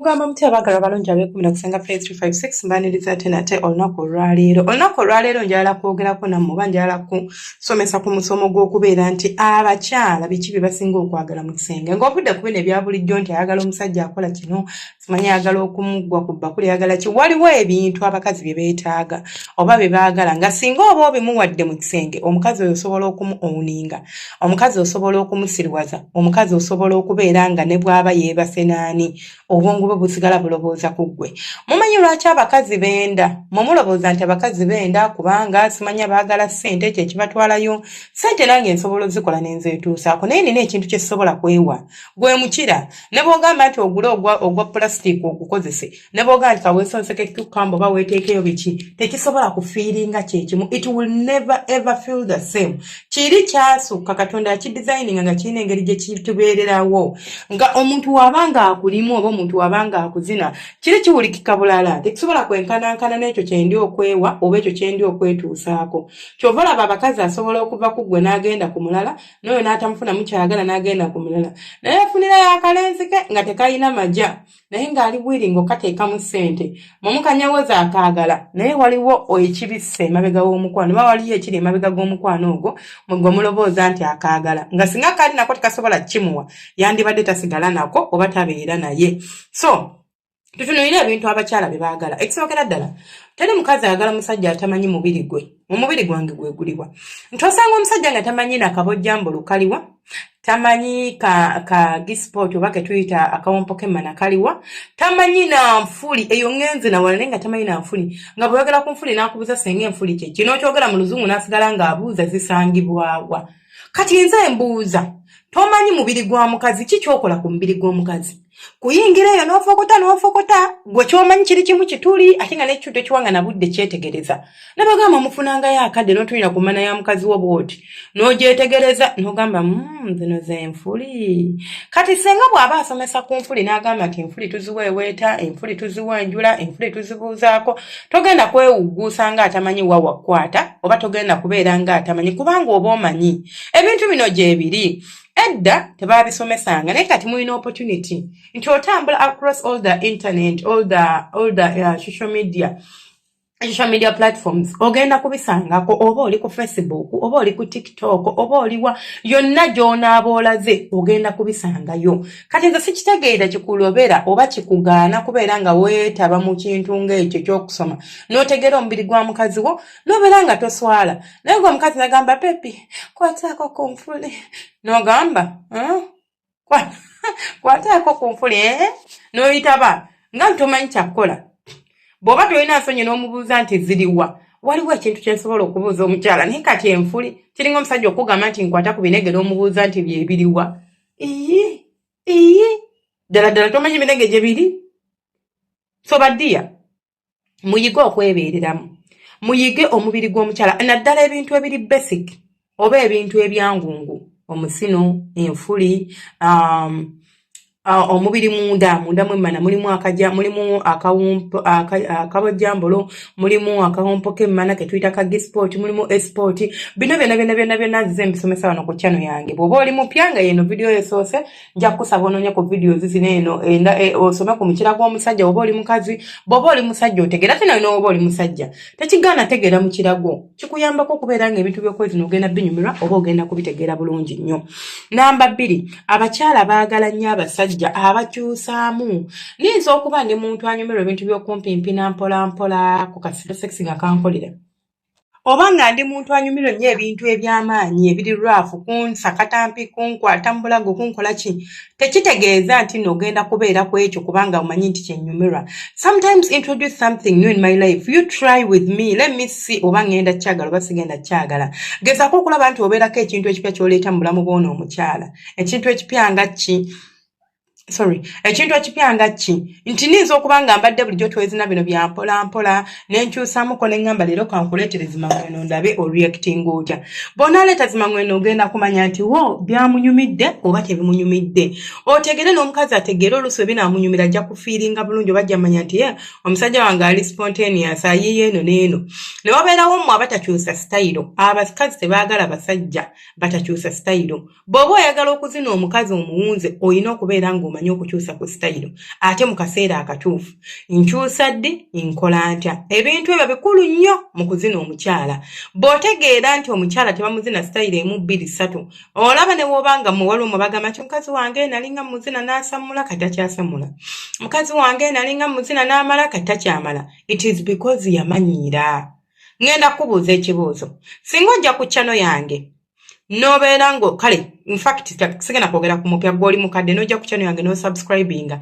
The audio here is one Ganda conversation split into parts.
mugamba mutya abagala balungi abekumira kusanga fe 356 mbaniriza ate nate olunaku olwaleero olunaku olwaleero njala kwogerako namu oba njala kusomesa ku musomo gw'okubeera nti abakyala biki bye basinga okwagala mu kisenge ng'ovudde ku bino ebya bulijjo nti ayagala omusajja akola kino manyi ayagala okumuggwa ku bbakuli ayagala ki waliwo ebintu abakazi bye beetaaga oba bye baagala nga singa oba obimuwadde mu kisenge omukazi oyo osobola okumu owuninga omukazi osobola okumusiriwaza omukazi osobola okubeera nga ne bw'aba yeebase naani obwongo bwe busigala bulowooza ku ggwe mumanyi lwaki abakazi benda mwe mulowooza nti abakazi benda kubanga simanya baagala ssente ekyo ekibatwalayo ssente nange nsobola ozikola ne nzeetuusaako naye nina ekintu kye sisobola kwewa gwe mukira ne bwogamba nti ogule ogwa ogwa plastic ogukozese ne bwogamba nti kawesonseke cucumber oba weeteekeyo biki tekisobola kufiiringa kyekimu it will never ever feel the same kiri kyasukka katonda yakidesigninga nga kirina engeri gye kitubeererawo nga omuntu waba nga akulimu oba omuntu waba nga akuzina kiri kiwulikika bulala tekisobola kwenkanankana n'ekyo kyendi okwewa oba ekyo kyendi okwetuusaako kyova olaba abakazi asobola okuva ku ggwe n'agenda ku mulala noyo natamufuna mukyagala nagenda ku mulala naye afunirayo akalenzi ke nga tekalina maja naye ng'ali bwiringo kateekamu ssente mumukanyawoza akaagala naye waliwo ekibisse emabega w'omukwano oba waliyo ekiri emabega g'omukwano ogwo mwegwe omulobooza nti akaagala nga singa kaali nako tekasobola kimuwa yandibadde tasigala nako oba tabeera naye so tutunulire ebintu abakyala bye baagala ekisookera ddala teri mukazi ayagala musajja atamanyi mubiri gwe omubiri gwange gwe guliwa nti osanga omusajja nga tamanyi nakabojjambo lukaliwa tamanyi ka, ka gisport oba ketuyita akawompo kemana kaliwa tamanyi nanfuli eyo ngenzi nawala naye nga tamanyi nanfuli nga bweyogera ku nfuli nakubuza senga enfuli kyeki nokyogera mu luzungu nasigala ngaabuuza zisangibwawa kati enze embuuza tomanyi mubiri gwa mukazi ki kyokola ku mubiri gw'omukazi kuyingira eyo n'ofokota n'ofokota gwe kyomanyi kiri kimu kituli ate nga nekituto kiwanga na budde kyetegereza nabagamba mufunangayo akadde n'otulira ku mana ya mukazi wo bwoti n'ogyetegereza n'ogamba hmm, zino zenfuli kati senga bw'aba asomesa ku nfuli n'agamba nti enfuli tuziweeweeta enfuli tuziwanjula enfuli tuzibuuzaako togenda kwewugguusa nga atamanyi wa wakukwata oba togenda kubeera nga atamanyi kubanga oba omanyi ebintu bino gyebiri edda tebaabisomesanga naye kati mulina opportunity nti otambula across all the internet all the, all the uh, social media social media platforms ogenda kubisangako oba oli ku facebook oba oli ku tiktok oba oliwa yonna gy'onaabaolaze ogenda kubisangayo kati nze sikitegeera kikulobera oba kikugaana kubeera nga weetaba mu kintu ng'ekyo ky'okusoma n'otegeera omubiri gwa mukazi wo n'obeera nga toswala naye gwe omukazi nagamba pepi kwataako ku nfuli n'ogamba hmm? kwataako ku nfuli eh? n'oyitaba nga ntomanyi kyakukola bw'oba tolina nsonyi n'omubuuza nti ziriwa waliwo ekintu kyensobola okubuuza omukyala naye kati enfuli kiringa omusajja okugamba nti nkwata ku binegera omubuuza nti byebiriwa iyi iyi ddala ddala tomanyi emirenge gye biri so badiya muyige okwebeereramu muyige omubiri gw'omukyala naddala ebintu ebiri basic oba ebintu ebyangungu omusino enfuli um, uh, omubiri munda munda mwemmana mulimu akaja mulimu akawumpo akabojjambolo mulimu akawompo kemmana ketuyita ka gisport mulimu esport bino byona byona byona byona nzize mbisomesa wano ku chano yange bwoba oli mupya nga yeno vidiyo esoose nja kukusaba ononya ku vidiyo zizino eno enda e, osome ku mukira gw'omusajja woba oli mukazi bwoba oli musajja otegera tena yona woba oli musajja tekigaana tegeera mukira gwo kikuyambako okubeera nga ebintu byokwezina ogenda binyumirwa oba ogenda kubitegeera bulungi nnyo namba bbiri abakyala baagala nnyo abasajja abakyusaamu niyinza okuba ndi muntu anyumirwa ebintu byokumpimpina mpolampola ku kasito sex nga kankolera oba nga ndi muntu anyumirwa nnyo ebintu eby'amaanyi ebiri rwafu kunsakatampi kunkwata mu bulago kunkola ki tekitegeeza nti no ogenda kubeera ku ekyo kubanga omanyi nti kyenyumirwa sometimes introduce something new in my life you try with me let me see oba ngenda kyagala oba sigenda kyagala gezako okulaba nti obeerako ekintu ekipya kyoleeta mu bulamu bwona omukyala ekintu ekipya nga ki sorry ekintu ekipya nga ki nti ninza okuba nga mbadde bulijjo twezina bino byampolampola nenkyusamuko neŋamba leero kankuleetere zimangweno ndabe oreacting otya bwonaleeta zimangweno ogenda kumanya nti wo byamunyumidde oba tebimunyumidde otegere n'omukazi ategeere oluusi we binaamunyumira ajja kufiiringa bulungi oba ajja manya nti ye omusajja wange ali spontaneous ayiye eno n'eno ne wabeerawo mmwe abatakyusa sitayiro abakazi tebaagala basajja batakyusa sitayiro bw'oba oyagala okuzina omukazi omuwunze olina okubeera ng'omanyi okukyusa ku sitayiro ate mu kaseera akatuufu nkyusa ddi nkola ntya ebintu ebyo bikulu nnyo mu kuzina omukyala bw'otegeera nti omukyala tebamuzina sitayiro emu bbiri ssatu olaba ne wooba nga muwala omu bagamba nti mukazi wange nalinga muzina n'asammula kati akyasammula mukazi wange nalinga muzina n'amala kati takyamala it is because yamanyiira ŋŋenda kukubuuza ekibuuzo singa ojja ku ccano yange nobeera ngo kale infact sigenda kwogera ku mupya gwoli mukadde nojja ku channel yange nosubscribinga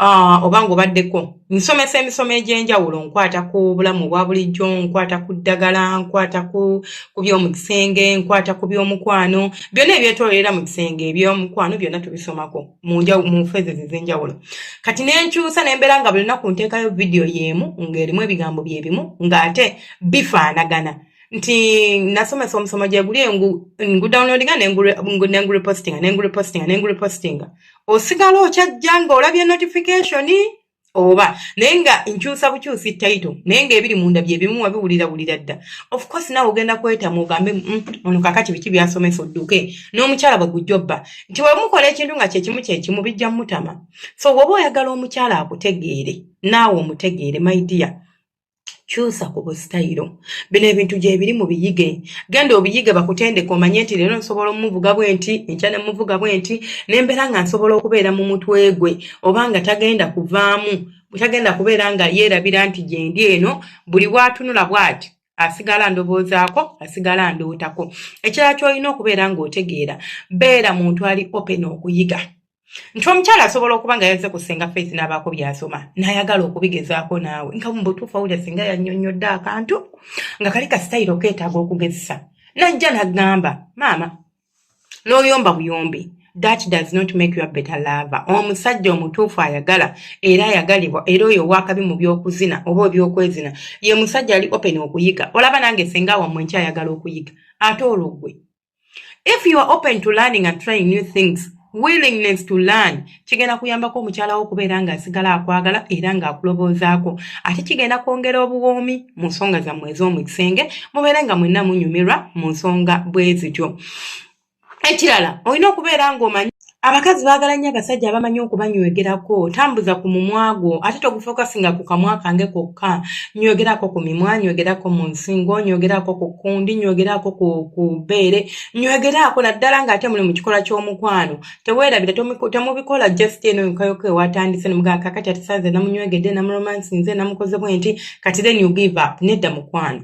uh, oba nga obaddeko nsomesa emisomo egyenjawulo nkwata ku bulamu obwa bulijjo nkwata ku ddagala nkwata ku byomu kisenge nkwata ku byomukwano byonna ebyetololera mu kisenge ebyomukwano byonna tubisomako mu fezes ezenjawulo kati nenkyusa nembeera nga buli lunaku nteekayo vidiyo yeemu ng'erimu ebigambo byebimu ng'ate bifaanagana nti nasomesa omusomo gyeguli ngudownloadinga nengurepostinga nengurepostinga nengurepostinga osigala okyajja nga olabye notification oba naye nga nkyusa bukyusi taito naye nga ebiri munda byebimu wabiwulira wulira dda ofcourse nawe ogenda kwetamu ogambe mm, ono kakati biki byasomesa odduke n'omukyala bwe gujobba nti wemukola ekintu nga kyekimu kyekimu bijja mutama so woba oyagala omukyala akutegeere naawe omutegeere maidiya kyusa ku busitayiro bino ebintu gyebiri mu biyige genda obiyige bakutendeka omanye nti leero nsobola omuvuga bwe nti enkya ne muvuga bwe nti nembeera nga nsobola okubeera mu mutwe gwe oba nga tagenda kuvaamu tagenda kubeera nga yeerabira nti gyendi eno buli bwatunula bwati asigala ndowoozaako asigala ndootako ekirala kyolina okubeera ng'otegeera beera muntu ali open okuyiga nti omukyala asobola okuba nga yazze ku senga faith n'abaako byasoma n'ayagala okubigezaako naawe nga mu butuufu awulira singa yannyonnyodde akantu nga kali ka sitayiro okeetaaga okugezesa najja n'agamba maama n'oyomba buyombi that does not make you a better lover omusajja omutuufu ayagala era ayagalibwa era oyo owakabi mu by'okuzina oba eby'okwezina ye musajja ali open okuyiga olaba nange senga wamwe nkyayagala okuyiga ate olwo gwe if you are open to learning and trying new things willingness to learn kigenda kuyambako omukyala wo okubeera ng'asigala akwagala era ng'akuloboozaako ate kigenda kwongera obuwoomi mu nsonga zammwe ez'omu kisenge mubeere nga mwenna munyumirwa mu nsonga bwe zityo ekirala olina okubeera ng'omanyi abakazi baagala nnyo abasajja abamanyi okubanywegerako tambuza ku mumwa gwo ate togufokasinga ku kamwa kange kokka nywegerako ku mimwa nywegerako mu nsingo nywegerako ku kundi nywegerako ku bbeere nywegerako naddala ng'ate muli mu kikolwa ky'omukwano teweerabira temubikola just eno yokayoko ewatandise nomugaa kakati atisanze namunywegedde namuromansinze namukoze bwe nti kati then you give up nedda mukwano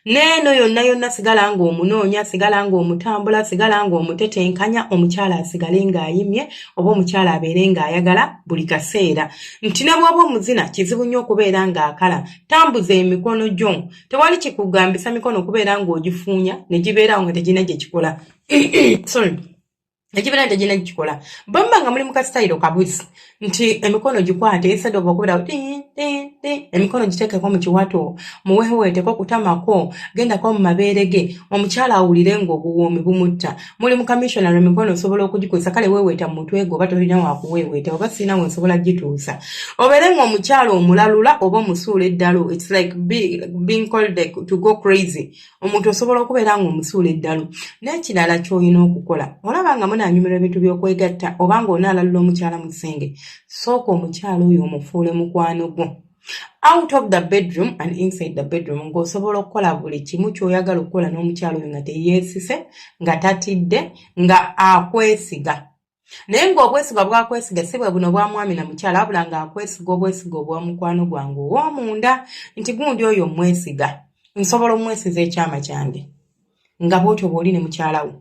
neeno yonna yonna sigala ng'omunoonya sigala ng'omutambula sigala ng'omutetenkanya omukyala asigale ng'ayimye oba omukyala abeere ng'ayagala buli kaseera nti ne bw'oba omuzina kizibu nnyo okubeera ng'akala tambuza emikono gyo tewali kikugambisa mikono okubeera ng'ogifuunya ne gibeerawo nga tegirina gye kikola sorry ekibeera nti egina gikikola bwe muba nga muli mu kasitayiro kabuzi nti emikono gikwate esada ova okubeera emikono giteekeko mu kiwato muweweeteko kutamako gendako mu mabeere ge omukyala awulire ng'obuwoomi bumutta muli mu kamissional emikono osobola okugikozesa kale weeweeta mu mutwe gwe oba tolina wakuweeweeta oba sirina we nsobola gituusa obeere ng'omukyala omulalula oba omusuula eddalo its like being called to go crazy omuntu osobola okubeera nga omusuula eddalu n'ekirala ky'olina okukola olaba nga munaanyumirwa ebintu by'okwegatta oba nga onaalalula omukyala mu kisenge sooka omukyala oyo omufuule mukwano gwo out of the bedroom and inside the bedroom ng'osobola okukola buli kimu ky'oyagala okukola n'omukyala oyo nga teyeesise nga tatidde nga akwesiga naye ng'obwesiga bwakwesiga si bwe buno bwa mwami na mukyala abula ng'akwesiga obwesiga obwa mukwano gwange ow'omunda nti gundi oyo omwesiga nsobola omwesiza ekyama kyange nga bwotyo bwoli ne mukyala wo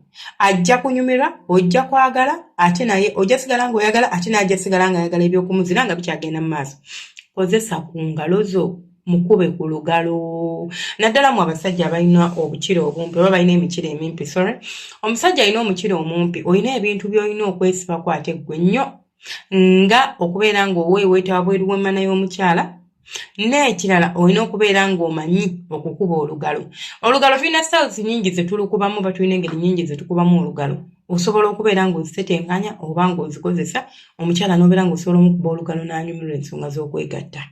ajja kunyumirwa ojja kwagala ate naye ojja sigala ng'oyagala ate naye ajja sigala ng'ayagala ebyokumuzira nga bikyagenda mu maaso kozesa ku ngalo zo mukube ku lugalo naddala mu abasajja abalina obukira obumpi oba balina emikira emimpi sorry omusajja alina omukira omumpi olina ebintu byolina okwesibako ate ggwe nnyo nga okubeera ng'oweeweeta wabweru w'emmana y'omukyala n'ekirala olina okubeera ng'omanyi okukuba olugalo olugalo tulina styles nyingi ze tulukubamu oba tulina engeri nyingi ze tukubamu olugalo osobola okubeera ng'ozitetenkanya oba ng'ozikozesa omukyala n'obeera ng'osobola omukuba olugalo n'anyumirwa ensonga z'okwegatta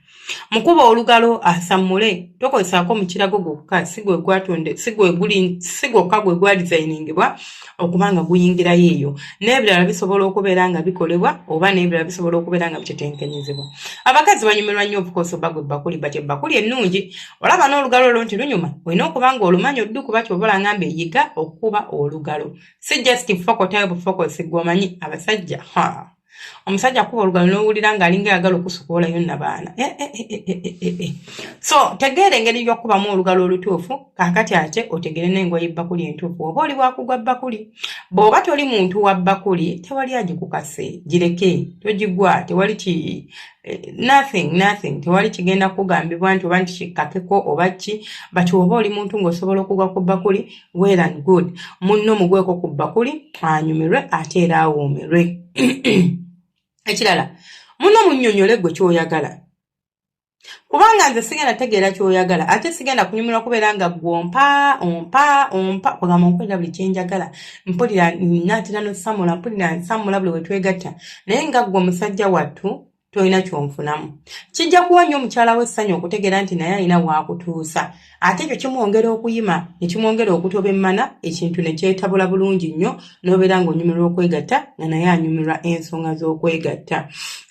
mukuba olugalo asammule tokozesaako mukirago gwokka sigwokka gwe gwadizayiningibwa okuba nga guyingirayo eyo n'ebirala bisobola okubeera nga bikolebwa oba n'ebirala bisobola okubeera nga bitetenkanyizibwa abakazi banyumirwa nnyo obukoosi oba gwe bakuli bat ebbakuli ennungi olaba n'olugalo olwo nti lunyuma olina okuba nga olumanyi oddu kuba kyobalanga mbe yiga okukuba olugalo si just fokotayo bufokosi gwomanyi abasajja haa omusajja akuba olugalo nowulira nga alinga ayagala okusukulayo nabaana eh, eh, eh, so tegeera engeri yokubamu olugalo olutuufu kakati ate otegere nengoye ebbakuli entuufu oba oli wakugwa bbakuli bwoba toli muntu wa bbakuli tewali agikukase gireke togigwa tewali ki nothing nothing tewali kigenda kugambibwa nti oba nti kikkakeko oba ki but oba oli muntu ngaosobola okugwa ku bbakuli well and good munno mugweko ku bbakuli anyumirwe ate era awoomerwe ekirala munno munnyonnyole gwe kyoyagala kubanga nze sigenda tegeera kyoyagala ate sigenda kunyumirwa kubeera nga gwe ompa ompa ompa kwegamba nkolera buli kyenjagala mpulira natera nosamula mpulira nsamula buli wetwegatta naye nga gwe omusajja wattu tolina kyonfunamu kijja kuwa nnyo omukyala we essanyu okutegeera nti naye alina waakutuusa ate ekyo kimwongera okuyima ne kimwongera okutoba emmana ekintu ne kyetabula bulungi nnyo n'obeera ng'onyumirwa okwegatta nga naye anyumirwa ensonga z'okwegatta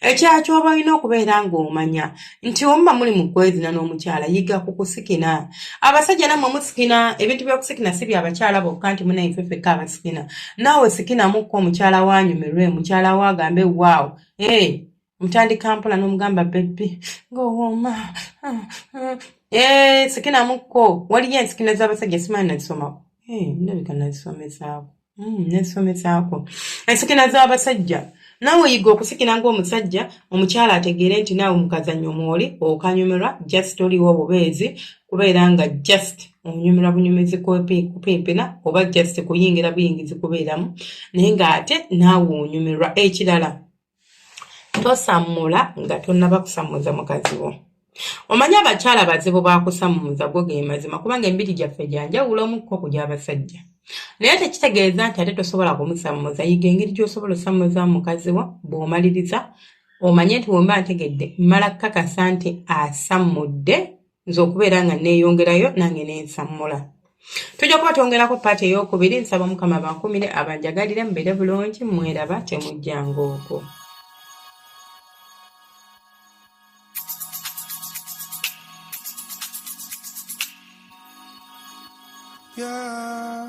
ekyaki oba olina okubeera ng'omanya nti omuba muli mu kwezina n'omukyala yiga ku kusikina abasajja nammwe musikina ebintu by'okusikina si bya bakyala bokka nti munaifefekka abasikina naawe sikinamuko omukyala waanyumirwe mukyala wo agambe waawo hey, eh, ntandika mpola n'omugamba bebbi ngaowooma ah, ah. hey, eh, sikinamuko waliyo ensikina z'abasajja simanyi nazisomako hey, eh, ndabika nazisomesaako mm, nazisomesaako ensikina z'abasajja naawe oyiga okusikira ng'omusajja omukyala ategeere nti naawe mukazanyo mwoli okanyumirwa just oliwo obubeezi kubeera nga just onyumira bunyumizi kupimpina oba just kuyingira buyingizi kubeeramu naye ng'ate naawe onyumirwa ekirala tosammula nga tonnaba kusammuza mukazi wo omanyi abakyala bazibu bakusammuza go ge mazima kubanga embiri gyaffe gyanjawulo omukko ku gy'abasajja naye tekitegeeza nti ate tosobola kumusammuza yiga engeri gy'osobola osammuza mukazi wo bw'omaliriza omanye nti wemba ntegedde mmala kukakasa nti asammudde nze okubeera nga neeyongerayo nange nensammula tujja kuba twongerako paati ey'okubiri nsaba omukama abankumire abanjagalire mubeere bulungi mweraba temujjanga okwo Yeah,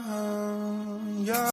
yeah.